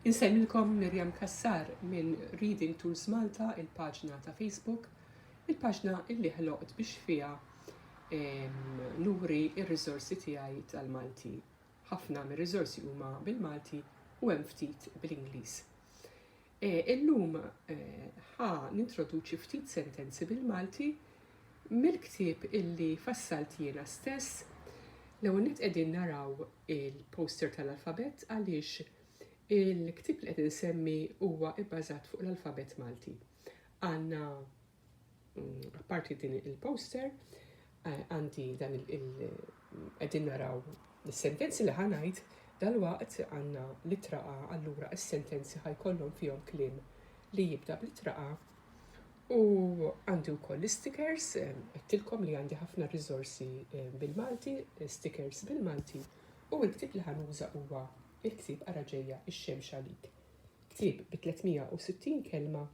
Insellmilkom Miriam Cassar minn Reading Tools Malta, il-paġna ta' Facebook, il-paġna illi ħloqt biex fiha nuri r-riżorsi tiegħi tal-Malti. Ħafna mir-riżorsi huma bil-Malti u hemm ftit bl-Ingliż. Illum ħa nintroduċi ftit sentenzi bil-Malti mill-ktieb illi fassalt jiena stess. L-ewwel nett qegħdin naraw il-poster tal-alfabett għaliex il-ktieb li qed insemmi huwa bbażat fuq l-alfabett Malti. Għandna Apparti din il-poster, għandi dan il-qegħdin naraw is-sentenzi li ħanajt dal-waqt għandna litra A allura is-sentenzi ħajkollhom fihom kliem li jibda b'litra A u għandi wkoll l-istikers, għedtilkom li għandi ħafna riżorsi eh, bil-Malti, stikers bil-Malti u l-ktib li ħanuża huwa il-ktib għaraġeja ġejja ix-xemx għalik. Ktib bi 360 kelma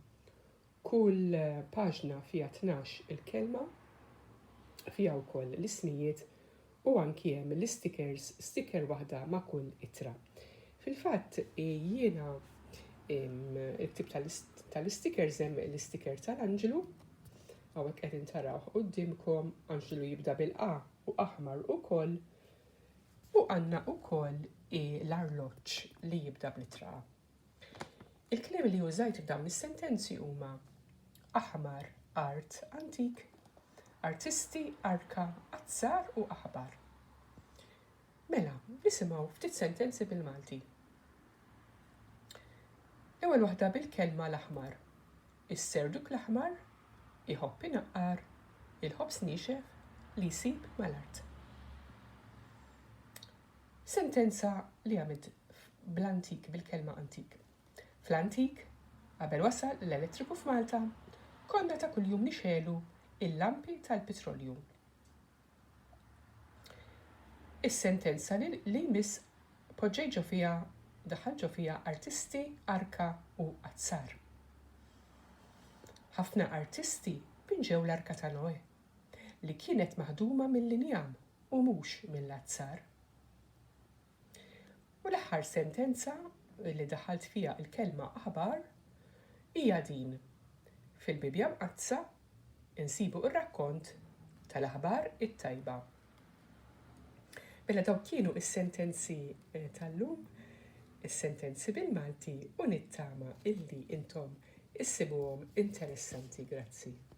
Kull paġna fiha tnax il kelma, fiha wkoll l-ismijiet u anki hemm l-istikers, stiker waħda ma' kull ittra. Fil-fatt jiena il-ktib tal-istikers hemm l-istiker tal-anġlu, hawnhekk qed intarawh quddiemkom, anġlu jibda bil-A u aħmar ukoll, u għandna ukoll l-arloġġ li jibda bl-ittra A. Il-kliem li użajt f'dawn is-sentenzi huma aħmar, art, antik, artisti, arka, azzar u aħbar. Mela, nisimgħu ftit sentenzi bil-Malti. L-ewwel waħda bil-kelma l-aħmar. Is-serduk l-aħmar iħobb inaqqar il-ħobż nixef li jsib mal-art. Sentenza li għamilt bl-antik, bil-kelma antik. Fl-antik, qabel wasal l-elettriku f'Malta, konna ta' kuljum nixegħlu l-lampi tal-pitrolju. Is-sentenza li jmiss poġġejt ġo fiha, daħħalt ġo fiha artisti, arka u azzar. Ħafna artisti pinġew l-arka ta' Noè, li kienet maħduma mill-injam u mhux mill-azzar. U l-aħħar sentenza li daħħalt fiha l-kelma aħbar hija din, fil-Bibbja Mqaddsa nsibu r-rakkont tal-aħbar it-tajba. Mela dawk kienu s-sentenzi eh, tal-lum, is-sentenzi bil-Malti u nittama illi intom issibuhom interessanti, grazzi.